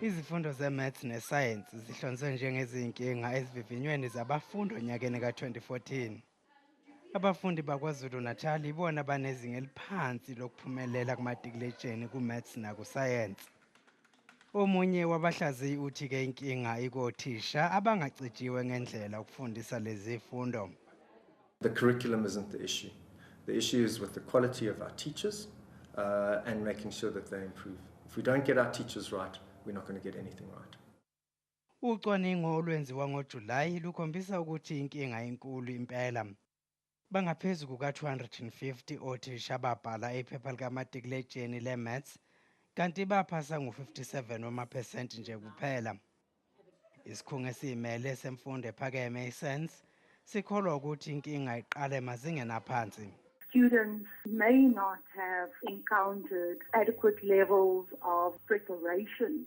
Izifundo ze-maths nesayensi zihlonzwe njengezinkinga ezivivinyweni zabafundi onyakeni ka-2014. Abafundi baKwaZulu-Natal ibona banezinga eliphansi lokuphumelela kumatikiletsheni ku-maths nakusayensi. Omunye wabahlaziyi uthi ke inkinga ikothisha abangagcijiwe ngendlela ukufundisa lezifundo. The curriculum isn't the issue. The issue is with the quality of our teachers uh, and making sure that they improve. If we don't get our teachers right, we're not going to get anything right. Ucwaningo olwenziwa ngoJulayi lukhombisa ukuthi inkinga enkulu impela Bangaphezu kuka-250 othisha ababhala iphepha likamatikuletsheni le-maths kanti baphasa ngu-57 wamaphesenti nje kuphela. Isikhungo esiyimele semfundo ephakeme i-SANS sikholwa ukuthi inkinga iqale emazingeni aphansi. students may not have encountered adequate levels of preparation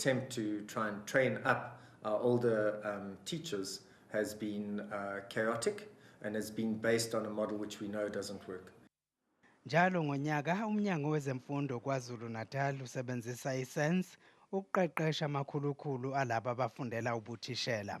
attempt to try and train up our older um, teachers has been uh, chaotic and has been based on a model which we know doesn't work. Njalo ngonyaka umnyango wezemfundo KwaZulu-Natal usebenzisa iSense ukuqeqesha amakhulukhulu alabo abafundela ubuthishela.